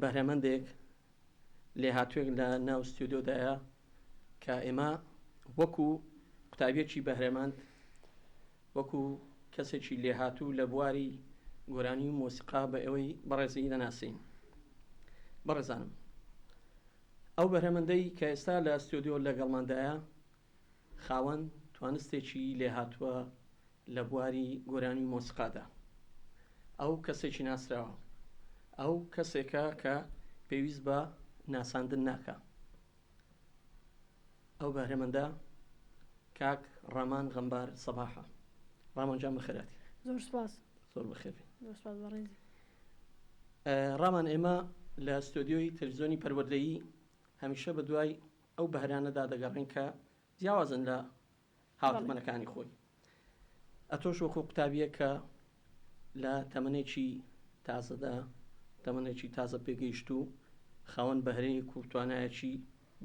بەهرەمەندێک لێهاتووێک لە ناو ستیۆدیۆدایە کە ئێمە وەکو قوتابیەکی بەهرەمەند وەکو کەسێکی لێهاتوو لە بواری گۆرانی و مۆسیقا بە ئەوەی بەڕێزی دەناسین بەڕێزانم ئەو بەرهەمەندەی کە ئێستا لە ستۆدیۆ لەگەڵماندایە خاوەن توانستێکی لێهاتووە لە بواری گۆرانی و مۆسیقادا. ئەو کەسێکی ناسراوە. ئەو کەسێکە کە پێویست بە ناساندن ناکا. ئەو بەهرەمەندە کاک ڕامان غەمبار سەباحە. ڕامان جان بەخێرهاتی. زۆر سوپاس. زۆر بەخێربێی. زۆر سوپاس بەڕێزی. ڕامان ئێمە لە ستۆدیۆی تەلەفزیۆنی پەروەردەیی هەمیشە بە دوای ئەو بەهرانەدا دەگەڕێن کە جیاوازن لە هاوتەمەنەکانی خۆی. ئەتۆش وەکو قوتابییەک کە لە تەمەنێکی تازەدا، تەمەنێکی تازە پێگەیشتوو، خاوەن بەهرەیەک و توانایەکی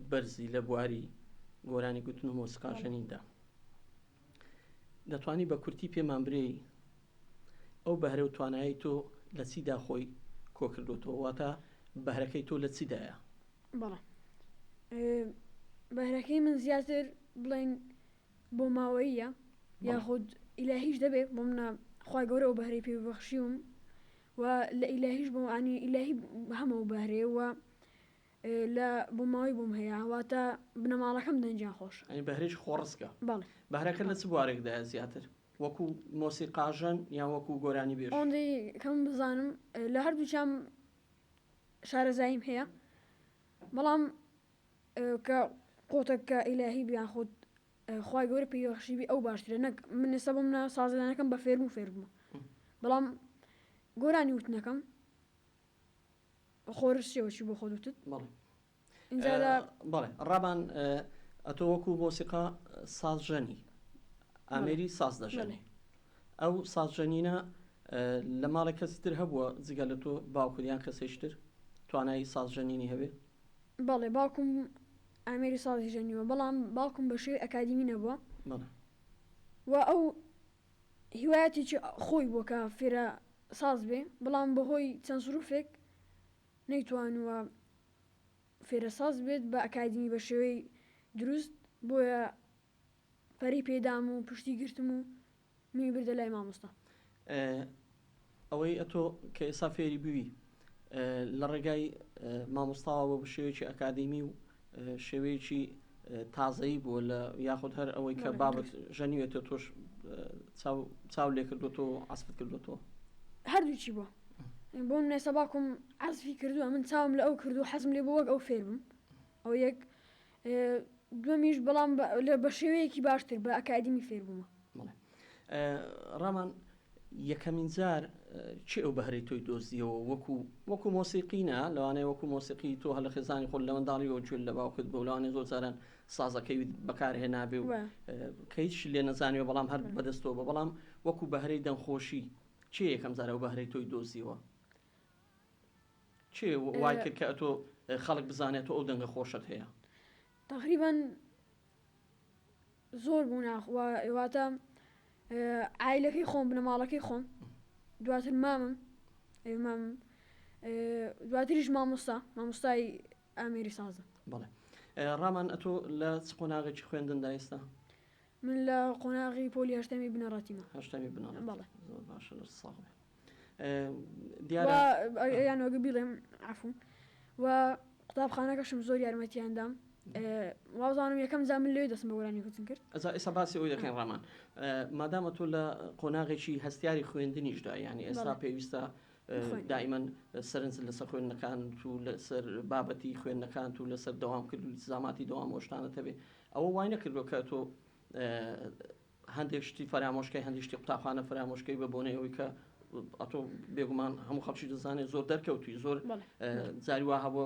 بەرزی لە بواری گۆرانی گوتن و مۆسیقا ژەنیندا. دەتوانی بە کورتی پێمان برێی ئەو بەهرە و توانایەی تۆ لە چیدا خۆی کۆکردۆتەوە؟ واتە بەهرەکەی تۆ لە چیدایە؟ بەڵام بەهرەکەی من زیاتر بڵێن بۆ ماوەییە یاخود ئیلاهیش دەبێت بۆ منە خی گەورە و بەهرەی پێبخشیوم و لە ئیلاهیش بۆ ئانی ئیلاهی هەمە و بەهرێ و لە بۆ ماوەی بووم هەیە واتە بنەماڵەکەم دەنجیان خۆش ئەی بەهرێکی خۆڕسکە بەڵێ بەهرەکە لە چ بوارێکدا زیاتر وەکو مۆسیقاژەن یان وەکو گۆرانی بێژ ئەوەندەی کەم بزانم لە هەردووچام شارەزاییم هەیە بەڵام کە قوتەکە ئیلاهی بیان خۆت خخوای گەورە پێیوەخشیبی ئەو باشترە نەک من ئێستا بم نا سازدانەکەم بە فێرم و فێربوو بەڵام گۆرانی وتنەکەم خۆرسیەوە چی بۆ خۆ وتت بەڵێ ڕابان ئەتۆ وەکو مۆسیقا سازژەنی ئامێری ساز دەژەنێ ئەو سازژەنینە لە ماڵێک کەسی تر هەبووە جگە لە تۆ باوکریان کەسێشتر توانایی سازژەنینی هەبێ بەڵێ باوکم ئامێری سازی ژەنیوە بەڵام باوکم بە شێوی ئەکادیمی نەبووە و ئەو هیوایەتێکی خۆی بۆ کە فێرە ساز بێ بەڵام بەهۆی چەند سروفێک نەیتوانووە فێرەساز بێت بە ئەکادیمی بە شێوەی دروست بۆیە پەرەی پێدام و پشتی گرتم و منی بردە لای مامۆستا. ئەوەی ئەتۆ کە ئێستا فێری بووی لە ڕێگای مامۆستاوە بە شێوەیەکی ئەکادیمی و شێوەیەکی تازەیی بووە لە یاخود هەر ئەوەی کە بابت ژەنیوێتە تۆش چاو لێ کردوەوە و عسفت کردوەوە هەردووچی بووە بۆ نێسە باکم عزفی کردووە من چاوم لە ئەو کردو حەزم لێ بۆ وەک ئەو فێرم ئەو یەک دومیش بەڵام لە بە شێوەیەکی باشتر بە ئەکادیمی فێربوومە ڕامان یەکەمین جار کێ ئەو بەهرەی تۆی دۆزیەوە وەکو وەکو مۆسیقی نا لەوانەیە وەکو مۆسیقی تۆ هەر لە خێزانی خۆت لە منداڵیەوە گوێت لە باوکت بوو لەوانەیە زۆر جاران سازەکەی بەکارهێنابێ و وە. کە هیچ لێ نەزانیوە بەڵام هەر بەدەستەوە بە بەڵام وەکو بەهرەی دەنگخۆشی کێ یەکەم جار ئەو بەهرەی تۆی دۆزیەوە کێ وای کرد کە ئەتۆ خەڵک بزانێت تۆ ئەو دەنگە خۆشەت هەیە؟ تەقریبەن زۆر بوو ناخواتە ئایلەکەی خۆم بنەماڵەکەی خۆم دواتر مامم ئێمام دواتریش مامۆستا مامۆستای ئامێری سازە بڵێ ڕامان ئەتۆ لە چ قۆناغێکی خوێندن دایستا من لە قۆناغی پۆلی هەشتەمی بنەڕاتیمە هەشتەمی بنەڕ باشە ساڵێ دیارە یانوەک بیڵێم عفون و قوتابخانەکەشم زۆر یارمەتیان دام وازانم یەکەم جا من لێ دەستم بە گۆرانی کوتن کرد ئەزا ئێستا باسی ئەوی دەکەین ڕامان مادامە تۆ لە قۆناغێکی هەستیاری خوێندنیشدا یعنی ئێستا بەڵێ. پێویستە خوێن. دائیمەن سەرنج لەسەر خوێندنەکان و لەسەر بابەتی خوێندنەکانت و لەسەر دەوامکردنی زاماتی دەوام ئەو شتانەت هەبێ ئەوە وای نەکردووە کە تۆ هەندێک شتی فەرامۆش کەی هەندێک شتی قوتابخانە فەرامۆش کەی بە بۆنەی ئەوەی کە ئەتۆ بێگومان هەموو خەڵکی دەزانێت زۆر دەرکەوتوی زۆر جاری وا هەبووە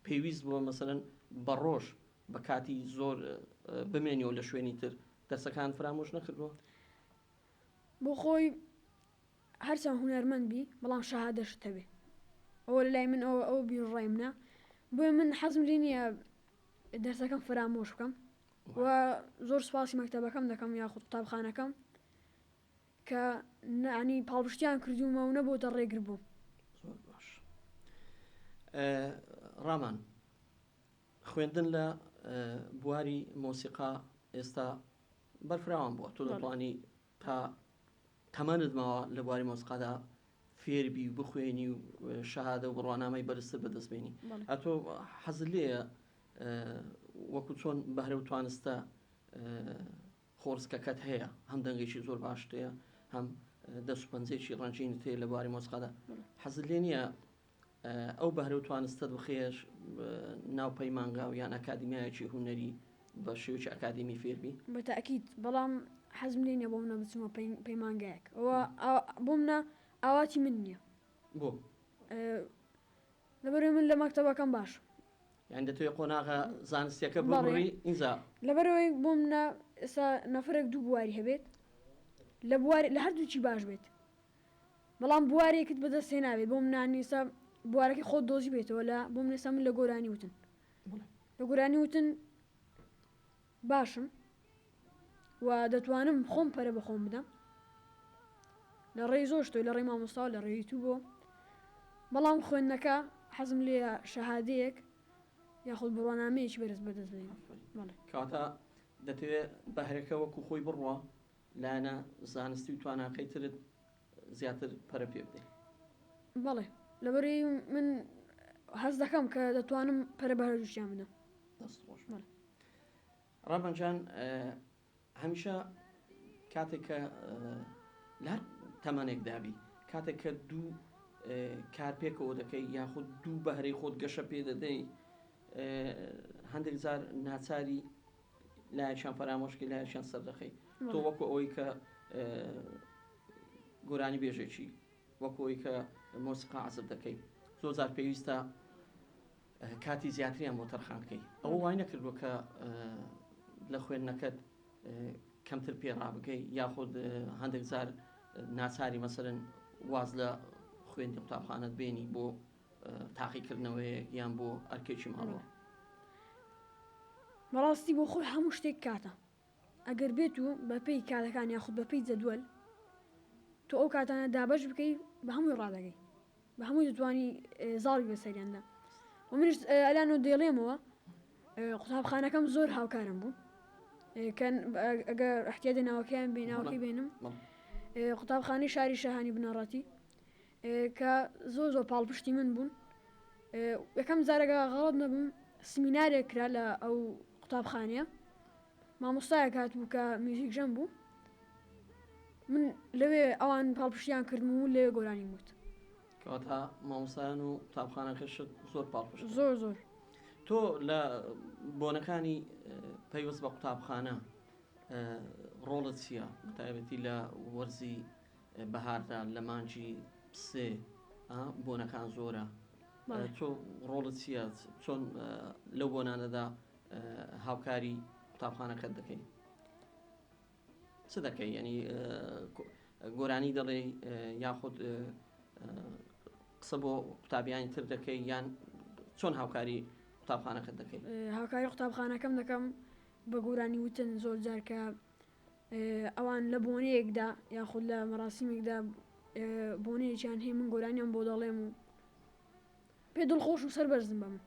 پێویست بووە مەسەرەن بە ڕۆژ بە کاتی زۆر بمێنیەوە لە شوێنی تر دەرسەکان فرامۆش نەکردووە بۆ خۆی هەرچەند هوەرمەند بی بەڵام شەهادەشت هەبێ ئەوە لای من ئەوە ئەو بیرڕای منە بۆی من حەزم لێ نییە دەرسەکەم فرامۆش بکەم و زۆر سوپاسی مەکتەبەکەم دەکەم یاخود قوتابخانەکەم کە نانی پاڵپشتیان کردوومە و نەبووتە ڕێگر بوو زۆر باش ڕامان خوێندن لە بواری مۆسیقا ئێستا بەرفراوان بووە تۆ دەتوانی تا تەمەنت ماوە لە بواری مۆسقادا فێربی و بخوێنی و شەهادە و بڕوانامەی بەرزتر بەدەست بێنی ئەتۆ حەز لێە وەکو چۆن بەهرە و توانستە خۆرسکەکەت هەیە هەم دەنگێکی زۆر باشتەیە هەم دەست پەنجێکی ڕەنجین تێ لە بواری مۆسقادا حەز لێ نییە ئەو بەهرە و توانستەت بخەیە ناو پەیمانگا و یان ئەکادیمیایەکی هونەری بە شێوەکی ئەکادیمی فێر بی؟ بە تەئکید، بەڵام حەزم لێ نییە بۆ منە بچمە پەیمانگایەک. ئەوە بۆ منە ئاواتی من نییە. بۆ؟ لەبەرئەوەی من لە مەکتەبەکەم باشم. یانی دەتەوێ قۆناغە زانستییەکە ببڕی ئینجا؟ لەبەرئەوەی بۆ منە ئێستا نەفەرێک دوو بواری هەبێت، لە بواری لە هەردووکی باش بێت. بەڵام بوارێکت بەدەست هێنابێ بۆم نانیسە بوارەکەی خۆت دۆزیبێتەوە لە بۆم نێسە من لە گۆرانی وتن لە گۆرانی وتن باشم و دەتوانم خۆم پەرە بەخۆم بدەم لە ڕێی زۆر شتۆ لە ڕێی مامۆستا لە ڕێی تو بۆ بەڵام خوێندنەکە حەزم لێ شەهادەیەک یاخود بڕوانامەیەکی بەرز بەدەست بێنم کاتە دەتەوێت بەهرەکە وەکو خۆی بڕوا لایەنە زانستی و تواناکەی ترت زیاتر پەرە پێ بدەی. بەڵێ لەبەرەی من هەست دەکەم کە دەتوانم پەرە بە هەردووکیان بدەم. دەست خۆش بێت ڕەبەن جان هەمیشە کاتێک کە لە هەر تەمەنێکدا بی کاتێک کە دوو کار پێکەوە دەکەی یاخود دوو بەهرەی خۆت گەشە پێ دەدەی هەندێک جار ناچاری لایەکیان پەرامۆشکەی لایەکیان سەردەخەی تۆ وەکو ئەوەی کە گۆرانی بێژێکی وەکو ئەوی کە مۆسیقا عزب دەکەی زۆر زار پێویستە کاتی زیاتریان بۆ تەرخان بکەی ئەوە وای نەکردووە کە لە خوێندنەکەت کەمتر پێ ڕابگەی یاخود هەندێک زار ناچاری مەسەرن واز لە خوێندی قوتابخانەت بێنی بۆ تاقیکردنەوەیەک یان بۆ ئەرکێکی ماڵەوە. بەڕاستی بۆ خۆی هەموو شتێک کاتە. ئەگەر بێت و بە پێی کاتەکان یاخود بە پێی جەدوەل تۆ ئەو کاتانە دابەش بکەی بە هەمووی ڕادەگەی. بە هەمووی دەتوانی زاڵی بەسەریاندا. وە منیش ئەلانۆ دەیڵێمەوە قوتابخانەکەم زۆر هاوکارم بوو. کەن ئەگەر ئەحتیاجە ناوەکەیان بێ ناوەکەی بێنم. قوتابخانەی شاری شاهانی بنەڕەتی کە زۆر زۆر پاڵپشتی من بوون یەکەم جارەگە غەڵت نەبووم سمینارێک کرا لە ئەو قوتابخانەیە مامۆستایە کات بوو کە میوزیک ژەم بوو من لەوێ ئەوان پاڵپشتیان کردم و لەوێ گۆرانی وت کەواتە مامۆسایان و قوتابخانەکەشت زۆر پاڵپشت زۆر زۆر تۆ لە بۆنەکانی پەیوەست بە قوتابخانە ڕۆڵت چییە تایبەتی لە وەرزی بەهاردا لە مانگی سێ ئا بۆنەکان زۆرە تۆ ڕۆڵت چیە چۆن لەو بۆنانەدا هاوکاری قوتابخانەکەت دەکەی چ دەکەی ینی گۆرانی دەڵێ یاخود قسە بۆ قوتابیانی تر دەکەی یان چۆن هاوکاری قوتابخانەکەت دەکەی هاوکاری قوتابخانەکەم دەکەم بە گۆرانی وتن زۆر جارکە ئەوان لە بۆنەیەکدا یاخود لە مەراسیمێکدا بۆنەیەکیان هەیە من گۆرانیان بۆ دەڵێم و پێ دڵخۆش و سەر بەرزم بە من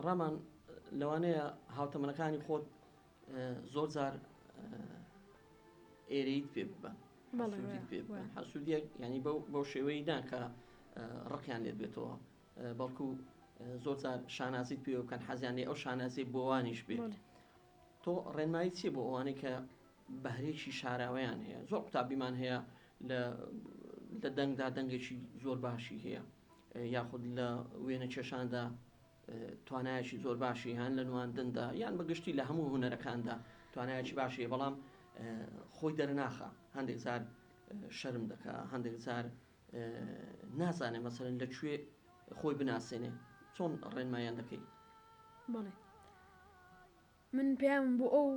ڕامان لەوانەیە هاوتەمەنەکانی خۆت زۆر جار ئێرەیت پێ ببە حەسوودیەک ینی بەو شێوەی ناکە ڕقیان لێت بێتەوە بەڵکو زۆر جار شانازیت پێ بکەن حەزیانێ ئەو شانازی بۆوانیش بێت تۆ ڕێنمایی چیە بۆ ئەوانەی کە بەهرەیەکی شاراوەیان هەیە زۆر قوتابیمان هەیە لە لە دەنگدا دەنگێکی زۆر باشی هەیە یاخود لە وێنە کێشاندا توانایکی زۆر باشی هەن لە نواندندا یان بەگشتی لە هەموو هوەرەکاندا توانایکی باشی بەڵام خۆی دەرناخە هەندێک زار شەرم دەکە هەندێک زار نازانێ مەسەلەن لە کوێ خۆی بناسێنێ چۆن ڕێنمایان دەکەی؟ بەڵێ من پەیامم بۆ ئەو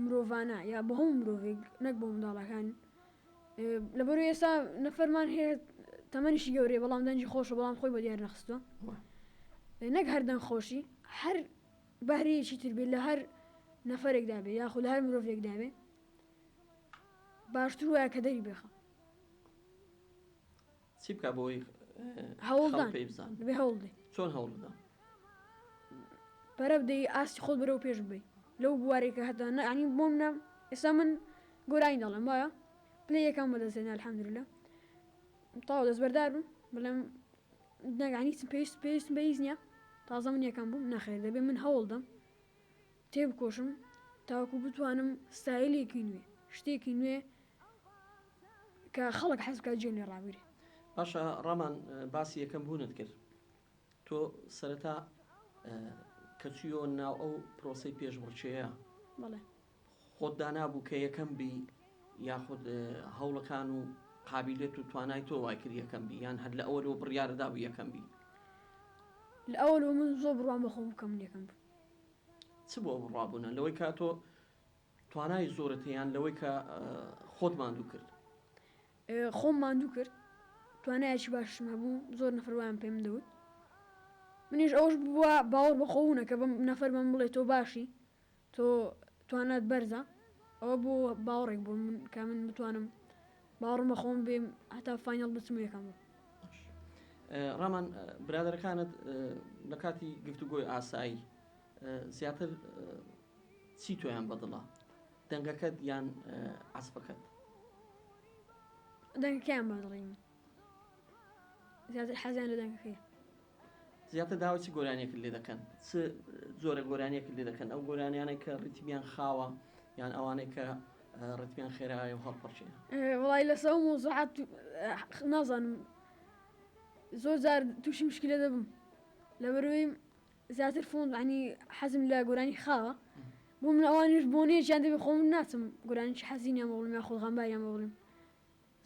مرۆڤانە یا بە هەموو مرۆڤێک نەک بۆ منداڵەکان لەبەر ئێستا نەفەرمان هەیە تەمەنیشی گەورەی بەڵام دەنجی خۆشە بەڵام خۆی بە دیار نەخستوە نەک هەردەنگ خۆشی هەر بەهرەیەکی تر بێت لە هەر نەفرێکدا بێ یاخود هەر مرۆڤێکدا بێ باشتر وایە کە دەری بێخە چی بکە بۆی هەوڵدان پێی بزان بێ هەوڵ بێ چۆن هەوڵ بدا پەرە بدەی ئاستی خۆت بەرەو پێش بی لەو بوارێکە هەتا نەعنی بۆم نام ئێستا من گۆرانی دەڵێم وایە پلێ یەکەم بەدەستێنە الحەمدللە تاو دەستبەردار بم بەڵێم نەگانی چ پێویست پێویست بە هیچ نییە تازە من یەکەم بووم نەخێر دەبێ من هەوڵدەم تێ بکۆشم تاوەکو بتوانم ستایلێکی نوێ شتێکی نوێ کە خەڵک حەز بکات گوێم لێ ڕابگرێ. باشە ڕامان باسی یەکەم بوونت کرد تۆ سەرەتا کە چویەوە ناو ئەو پرۆسەی پێشبڕکێیە بەڵێ خۆت دانابوو کە یەکەم بی یاخود هەوڵەکان و قابیلێت و توانای تۆ وای کرد یەکەم بی یان هەر لە ئەوەلەوە بڕیارت دابوو یەکەم بی؟ لە ئەوەلەوە من زۆر بڕوام بە خۆم بوو کە من یەکەم بووم. چ بووە بڕوابوونە لەوەی کە تۆ توانای زۆرت یان لەوەی کە خۆت ماندوو کرد؟ خۆم ماندوو کرد توانایەکی باشم هەبوو زۆر نەفەر وایان پێم دەوت منیش ئەوەش بووە باوەڕ بەخۆوو نەکە بەم نەفەر بەم بڵێ تۆ باشی تۆ توانات بەرزە ئەوە بۆ باوەڕێک بوو من کە من بتوانم باوەڕم بەخۆم بێم هەتا فینەڵ بچم یەکەم بوو ڕامان برادەرەکانت لە کاتی گفتوگۆی ئاسایی زیاتر چی تۆیان بەدڵە دەنگەکەت یان عەسپەکەت؟ دەنگەکەیان بەدڵی من زیاتر حەزیان لە دەنگەکەی زیاتر داوای چ گۆرانیەکت لێ دەکەن چ زۆرە گۆرانیەکت لێ دەکەن ئەو گۆرانیانەی کە ڕیتمیان خاوە یان ئەوانەی کە ڕتمیان خێرایە و هەڵپەڕچێ وڵی لەسە و مۆزعات نازانم زۆر جار تووشی مشکلە دەبم لەبەروی زیاتر فۆن یانی حەزم لە گۆرانی خاوە بۆ من ئەوانیش بۆنەیەک یان دەبێ خۆ من ناچم گۆرانیی حەزین یان بۆ بڵێم یان خود غەمبار یان بۆ بڵێم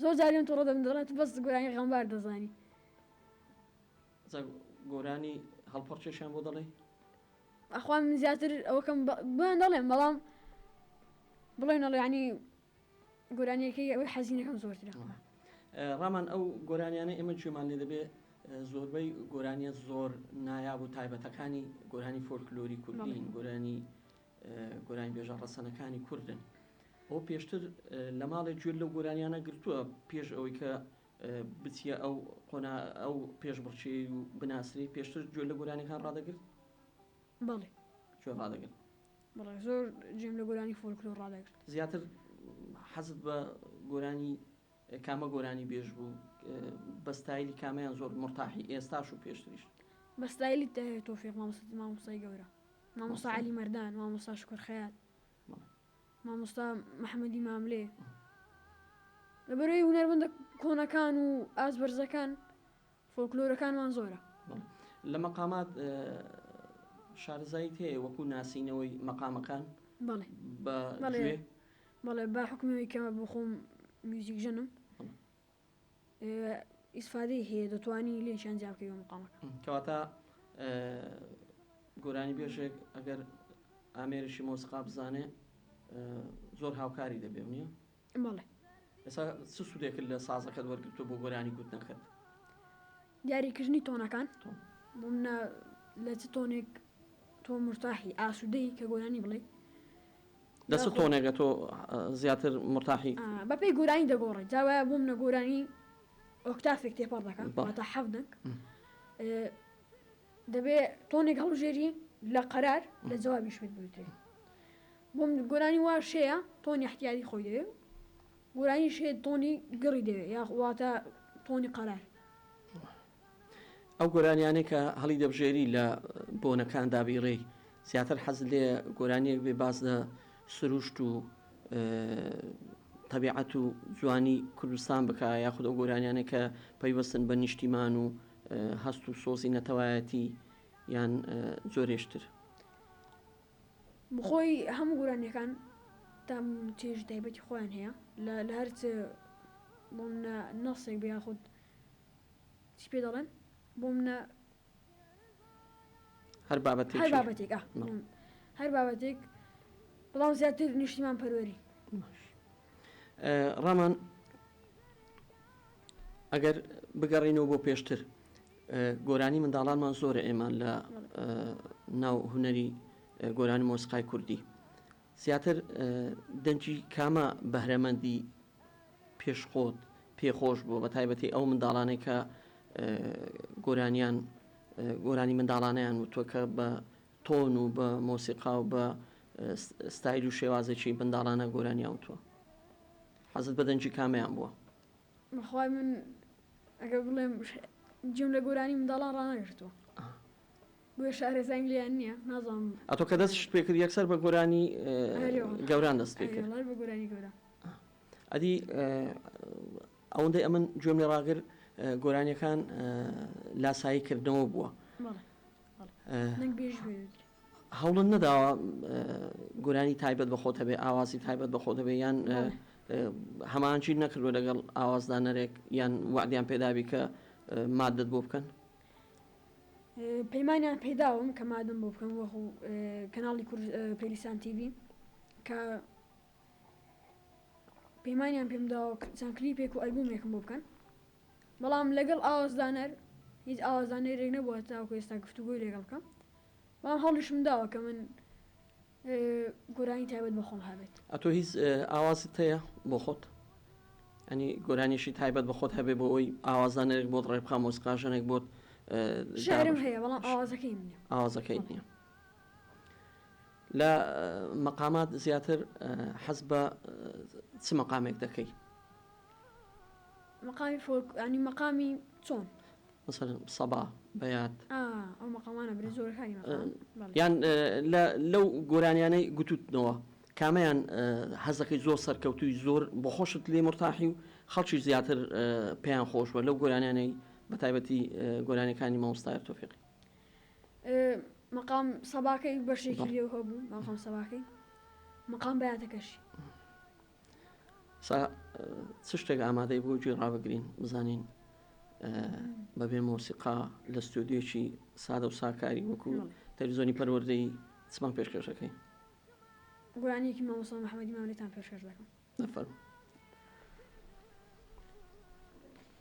زۆر جار لێم توڕە دەبن دەڵێن تو بەس گۆرانی غەمبار دەزانی. جا گۆرانی هەڵپەڕکێشیان بۆ دەڵێی؟ ئەخوان من زیاتر ئەوەکەم بۆیان دەڵێم بەڵام بڵێن ئەڵێ یانی. گۆرانیەکەی ئەوەی حەزینەکەم زۆرترە. ڕامان ئەو گۆرانیانەی ئێمە گوێمان لێ دەبێ زۆربەی گۆرانیە زۆر نایاب و تایبەتەکانی گۆرانی فۆلکلۆری کوردین گۆرانی گۆرانی بێژە ڕەسەنەکانی کوردن ئەو پێشتر لە ماڵێ گوێر لەو گۆرانیانە گرتووە پێش ئەوەی کە بچیە ئەو قۆنا ئەو پێش بڕچی و بناسری پێشتر گوێ لە گۆرانەکان ڕدەگرت بەڵێ گوێ ڕدەگرت بەڵێ زۆر جێم لە گۆرانی فۆلکلۆر ڕادەگرت. زیاتر حەزت بە گۆرانی کامە گۆرانی بێژ بوو بە ستایلی کامەیان زۆر مورتاحی ئێستاش و پێشتریش؟ بە ستایلی تاهیر تۆفیق مامۆستی مامۆستای گەورە مامۆستا عەلی مەردان مامۆستا شوکر خەیات مامۆستا محەمەدی ماملێ لەبەرەوەی هونەرمەندە کۆنەکان و ئاست بەرزەکان فۆلکلۆرەکانمان زۆرە. لە مەقامات شارەزاییت هەیە وەکوو ناسینەوەی مەقامەکان بە گوێ؟ بەڵێ با حوکمی ئەوەی کە بۆ خۆم میوزیک ژەنم ئیسفادەی هەیە دەتوانی لێیشیان جیا بکەی بە مەقامەکان. کەواتە گۆرانیبێژێک ئەگەر ئامێرێکی مۆسیقا بزانێ زۆر هاوکاری دەبێ و نییە؟ بەڵێ. ئێستا چ سوودێکت لە سازەکەت وەرگرتووە بۆ گۆرانی گوتنەکەت؟ دیاریکردنی تۆنەکان، بۆ منە لە چ تۆنێک تۆ مورتاحی، ئاسوودەی کە گۆرانی بڵێی. لە چ تۆنێکە تۆ زیاتر مورتاحی؟ بەپێی گۆرانی دەگۆڕێت، جا وایە بۆ منە گۆرانی ئۆکتافێک تێپەڕ دەکا، واتە حەفت دەنگ. دەبێ تۆنێک هەڵبژێری لە قەرار، لە جەوابیش پێت بوترێ. بۆم گۆرانی واش هەیە تۆنی احتیاتی خۆی دەوێ و گۆرانیش هەیە تۆنی گڕی دەوێ یا واتە تۆنی قەرار. ئەو گۆرانیانەی کە هەڵی دەبژێری لە بۆنەکان دابیڕێی زیاتر حەزت لێ گۆرانیەک بێ باس لە سروشت و تەبیعەت و جوانی کوردستان بکە یاخود ئەو گۆرانیانە کە پەیوەستن بە نیشتیمان و هەست و سۆزی نەتەوایەتی یان زۆرێشتر بخۆی هەموو گۆرانیەکان تام و چێژی تایبەتی خۆیان هەیە لە لە هەر چ بۆ منە نەسێک بێ یاخود چی پێ دەڵێن بۆ منە هەر بابەتێک هەر بابەتێک هەر بابەتێک بەڵام زیاتر نیشتیمان پەروەری ڕامان ئەگەر بگەڕینەوە بۆ پێشتر گۆرانی منداڵانمان زۆرە ئێمان لە ناو هوەری گۆرانی مۆسیقای کوردی زیاتر دەنگی کامە بەهرەمەندی پێش خۆت پێ خۆش بووە بە تایبەتی ئەو منداڵانەی کە گۆرانیان گۆرانی منداڵانیان وتوە کە بە تۆن و بە مۆسیقا و بە ستایل و شێوازێکی منداڵانە گۆرانیان وتوە حەزت بە دەنگی کامیان بووە بەخوای من ئەگە بڵێم جیم لە گۆرانی منداڵان ڕانەگرتووە بۆیە شارەزایم لێیان نیە نازانم. ئەتۆ کە دەستشت پێ کرد یەکسەر بە گۆرانی گەوران دەست پێ کرد؟ ئەرێ وەڵا ئەرێ وەڵا بە گۆرانی گەوران. ئەدی ئەوەندەی ئەمن گوێم لێ ڕاگر گۆرانیەکان لاسایی کردنەوە بووە. هەوڵت نەداوە گۆرانی تایبەت بە خۆت هەبێ ئاوازی تایبەت بە خۆت هەبێ یان هەمانچی نەکردوە لەگەڵ ئاوازدانەرێک یان وەعدیان پێدابی کە ماددت بۆ بکەن؟ پەیمانیان پێداوم کە مادم بۆ بکەم وەخو کەناڵی کور پەیلیسان تیڤی کە پەیمانیان پێم داوە چەند کلیپێک و ئەلبومێکم بۆ بکەن بەڵام لەگەڵ ئاوازدانەر هیچ ئاوازدانەرێک نەبووە تاوکو ئێستا گفتوگۆی لەگەڵ بکەم بەڵام هەڵیشم داوە کە من گۆرانی تایبەت بە خۆم هەبێت. ئەتۆ هیچ ئاوازت هەیە بۆ خۆت؟ ئەنی گۆرانیەکی تایبەت بە خۆت هەبێ بۆ ئەوی ئاوازدانەرێک بۆت ڕێ بخا مۆسیقاژەنێک بۆت شعرم هەیە بەڵام ئاوازەکەی نییە ئاوازەکەی نییە لە مەقامات زیاتر حەز بە چ مەقامێک دەکەی؟ مەقامی فۆلک ینی مەقامی چۆن؟ مەسەلەن سەبا، بەیات. یان لەو گۆرانیانەی گوتووتنەوە کامەیان حەز دەکەی زۆر سەرکەوتووی زۆر بۆ خۆشت لێ مورتاحی و خەڵکیش زیاتر پێیان خۆش بووە لەو گۆرانیانەی بە تایبەتی گۆرانیەکانی مامۆستا تۆفیقی؟ مەقام سەباکەی بەشێکی لێو هەبوو مەقام سەباکەی مەقام بەیاتەکەشی. چ شتێک ئامادەی بۆ گوێ ڕابگرین بزانین بەبێ مۆسیقا لە ستۆدیۆکی سادە و ساکاری وەکو تەلویزۆنی پەروەردەی چمان پێشکەشەکەی گورانیەکی مامۆسا محەممەدی ماملێتان پێشکەش دەکەم نەفەرم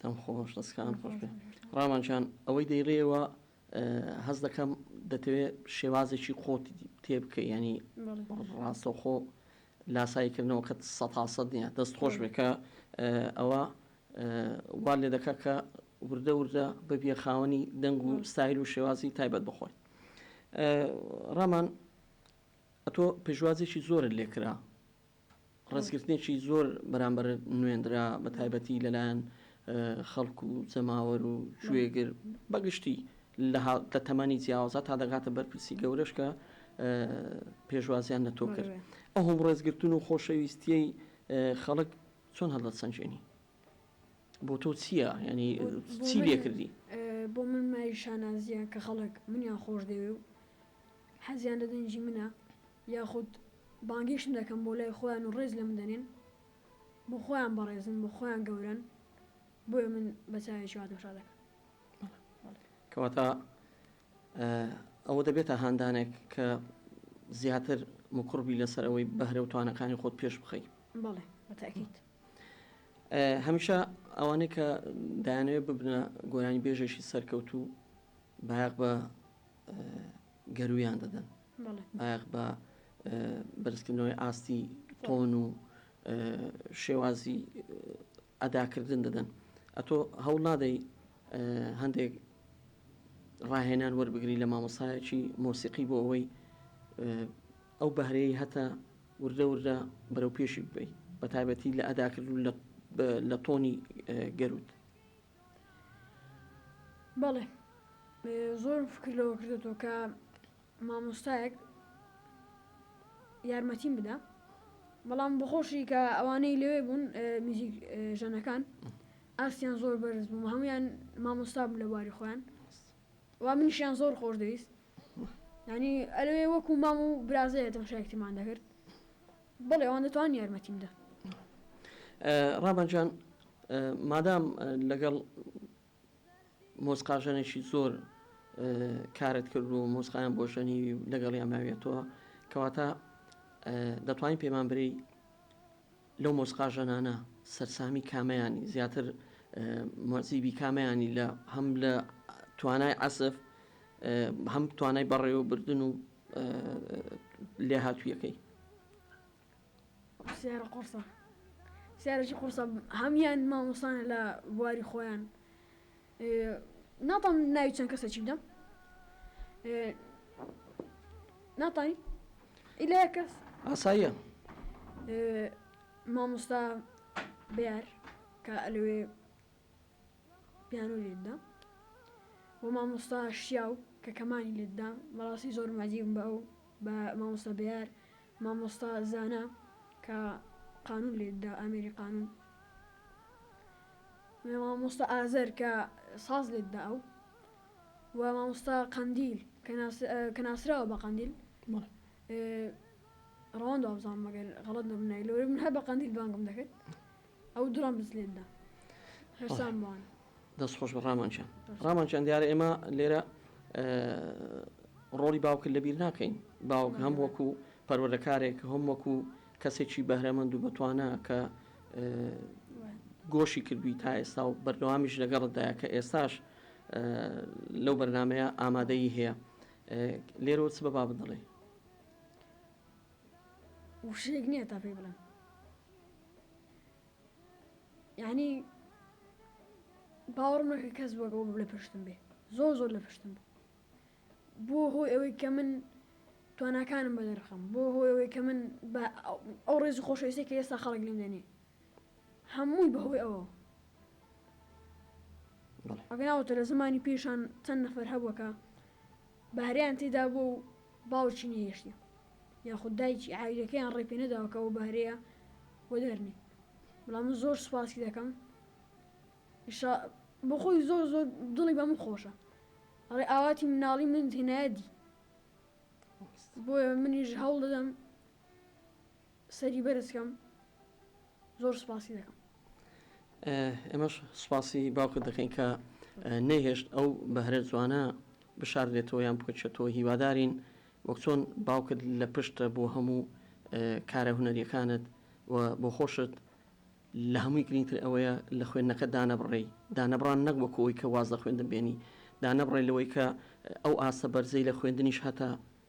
دەم خۆش دەستکانت خۆش بێ ڕامان جان ئەوەی دەیڵێەوە هەز دەکەم دەتەوێت شێوازێکی خۆت تێ بکە ینی ڕاستەخۆ لاسایکردنەوە کە سەتاسەد نیە دەست خۆش بێکە ئەوە وا لێ دەکە کە وردە وردە ببیە خاوەنی دەنگ و ستایل و شێوازی تایبەت بخۆی ڕامان ئەتۆ پێشوازێکی زۆرت لێکرا ڕێزگرتنێکی زۆر بەرامبەر نوێنرا بە تایبەتی لەلایەن خەڵک و جەماوەر و گوێگر بەگشتی لە تەمەنی جیاوازە تا دەگاتە بەرپرسی گەورەش کە پێشوازیان لە تۆ کرد ئەوم ڕێزگرتن و خۆشەویستیەی خەڵک چۆن هەڵدە سنجێنی بۆ تۆ چییە ینی چی لێ کردی بۆ من مای شانازیە کە خەڵک منیان خۆش دەوێ و حەزیان لە دەنجی منە یاخود بانگیشم دەکەم بۆ لای خۆیان و ڕێز لەمن دەنێن بۆ خۆیان بەڕێزن بۆ خۆیان گەورەن بۆیە من بە چاوێکی وا تەمشا دەکەم. کەواتە ئەوە دەبێتە هاندانێک کە زیاتر مکوڕ بی لەسەر ئەوەی بەهرە و توانەکانی خۆت پێش بخەی. بەڵێ بە تەئکید. هەمیشە ئەوانەی کە دایانەوێت ببنە گۆرانیبێژێکی سەرکەوتوو بایەخ بە گەروویان دەدەن. بایەخ بە بەرزکردنەوەی ئاستی تۆن و شێوازی ئەداکردن دەدەن ئەتۆ هەوڵ نادەی هەندێک ڕاهێنان وەربگری لە مامۆسایەکی مۆسیقی بۆ ئەوەی ئەو بەهرەیە هەتا وردە وردە بەرەو پێشی ببی بە تایبەتی لە ئەداکردن لە تۆنی گەروت بەڵێ زۆرم فکر لەوە کردێتەوە کە مامۆستایەک یارمەتیم بدە بەڵام بخۆشی کە ئەوانەی لەوێ بوون میزیک ژەنەکان ئاسیان زۆر بەرز بووم هەمویان مامۆستا بوو لە بواری خۆیان وا منیشیان زۆر خۆش دەویست ینی ئەلوێ وەکو مام و برازەیە تەمشایکتمان دەکرد بەڵێ ئەوان دەتوانن یارمەتیم بدەن. ڕابان جان مادام لەگەڵ مۆزقاژەنێکی زۆر کارت کرد و مۆزقایان بۆ ژەنیوی و لەگەڵیان ماویەتەوە کەواتە دەتوانین پێمان بری لەو مۆزقاژەنانە سەرسامی کامەیانی زیاتر مۆزیبی کامەیانی لە هەم لە توانای عسف هەم توانای بەڕێوەبردن و لێهاتوویەکەی. پرسیارە قورسە پرسیارێکی قورسە هەموویان مامۆستانە لە بواری خۆیان ناتوانم ناوی چەند کەسێکی بدەم ناتوانین ئیلا یەک کەس ئاساییە مامۆستا بێر کە ئەلوێ پیانۆ لێت دا وە مامۆستا شیاو کە کەمانی لێت دا بەڕاستی زۆرم عەزیی بوون بە ئەو بە مامۆستا بەیار مامۆستا زانا کە قانون لێت دا ئامێری قانون وە مامۆستا ئازەر کە ساز لێت دا ئەو وە مامۆستا قەندیل کە ناس کە ناسراوە بە قەندیل ڕەوەند وابزانم مەگەر غەڵەت نەبم ناوی لۆ من هەر بە قەندیل بانگم دەکرد ئەو دڕۆن بزلێندا هەرسان بۆن. دەست خۆش بە ڕامان جان ڕامان جان دیارە ئێمە لێرە ڕۆڵی باوکرد لەبیر ناکەین باوک هەم وەکو پەروەردەکارێک هەم وەکو کەسێکی بەهرەمەند و بەتوانە کە گۆشی کردووی تا ئێستا و بەردەوامیش لەگەڕدایە کە ئێستاش لەو بەرنمەیە ئامادەی هەیە لێرۆ چ بە بابدڵێ وشێک نییە تا پێی بڵێن یعنی باوەڕم نەکرد کەس وەک ئەو لە پشتم بێ زۆر زۆر لە پشتم بوو بۆ هۆی ئەوەی کە من تواناکانم بە دەرخەم بۆ هۆی ئەوەی کە من ئەو ڕێز و خۆشەویستی کە ئێستا خەڵک لێم دەنێ هەمووی بەهۆی ئەوە ئەگەناوە تەلە زمانی پێشان چەند نەفەر هەبووەکە بەهرەیان تێدا بووە و باوکی نەهێشتە یاخود دایکی عایلەکەیان ڕێ پێنەداوە کە ئەو بەهرەیە وەدەرنێ بەڵام من زۆر سوپاسی دەکەم ان شاء بۆ خۆی زۆر زۆر دڵی بە من خۆشە ئەڵێ ئاواتی مناڵی منت هێنایە دی بۆیە منیش هەوڵ دەدەم سەری بەرز کەم زۆر سوپاسی دەکەم. ئێمەش سوپاسی باوکت دەکەین کە نەیهێشت ئەو بەهرە جوانە بشاردێتەوە یان بکەوێتەوە هیوادارین وەک چۆن باوکت لە پشتە بۆ هەموو کارە هونەریەکانت و بۆ خۆشت لە هەمووی گرینگتر ئەوەیە لە خوێندنەکە دانەبڕێی دانەبڕان نەک وەکو ئەوەی کە واز لە خوێندن بێنی دانەبڕێ لەوەی کە ئەو ئاستە بەرزەی لە خوێندنیش هەتە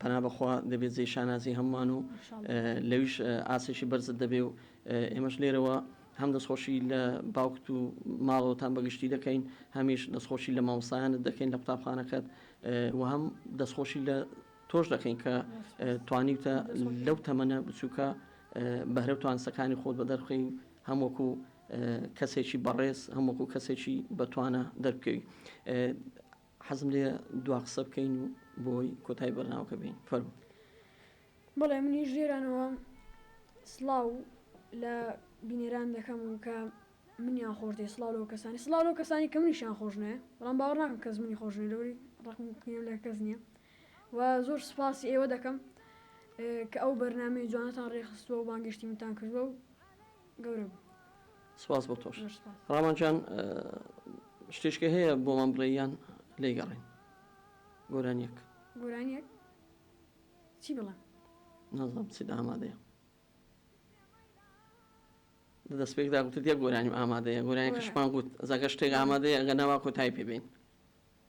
پەنا بەخوا دەبێت جێی شانازی هەموومان و لەویش ئاسێکی بەرزت دەبێ و ئێمەش لێرەوە هەم دەستخۆشی لە باوکت و ماڵەوەتان بەگشتی دەکەین هەمیش دەستخۆشی لە مامۆستایانت دەکەین لە قوتابخانەکەت و هەم دەستخۆشی لە تۆش دەکەین کە توانیوتە لەو تەمەنە بچووکە بەهرە و توانسەکانی خۆت بە دەرخی و هەم وەکو کەسێکی بەڕێز هەم وەکو کەسێکی بەتوانە دەربکەوی حەزم لێیە دوا قسە بکەین و بۆی کۆتای بەرناوکە بین فەرمو. بەڵێ منیش لێرانەوە سڵاو لە بینەران دەکەم کە منیان خۆش دەوێت سڵاو لەو کەسانی سڵاو لەو کەسانی کە منیشان خۆش ناوێت بەڵام باوەڕ ناکەم کەس منی خۆش نوێت لەوری ڕقم قینەم لە کەس نییە و زۆر سوپاسی ئێوە دەکەم کە ئەو بەرنامەی جوانتان ڕێکخستووە و بانگێشتی منتان کردووە و گەورە بوو. سپاس بۆ تۆش زۆر سپاس. ڕامان جان شتێشکە هەیە بۆمان بڵێی یان لێی گەڕێین گۆرانیەک؟ گۆرانیەک چی بڵێم؟ نازانم چیت ئامادەیە؟ لە دەسپێکدا گوتت یەک گۆرانیم ئامادەیە گۆرانیەکەشمان گوت ئەزا گەر شتێک ئامادەیە ئەگەر نا وا کۆتایی پێ بێین.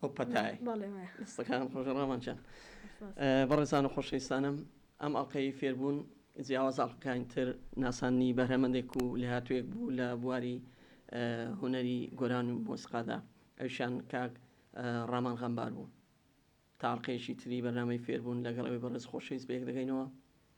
ئەو پەتایەی بەڵێ وایە. دەستەکانت خۆش ڕامان جان. سپاس. بەڕێزان و خۆشەویستانم ئەم ئەڵقەی فێربوون جیاوازە ئەڵقەکانی تر ناساندنی بەهرەمەندێک و لێهاتوویەک بوو لە بواری هونەری گۆران و مۆسیقادا ئەویشیان کاک ڕامان غەمبار بوو تا ئەڵقەیەکی تری بەرنامەی فێربوون لەگەڵ ئەوی بەڕێز خۆشەویست بەیەک دەگەینەوە.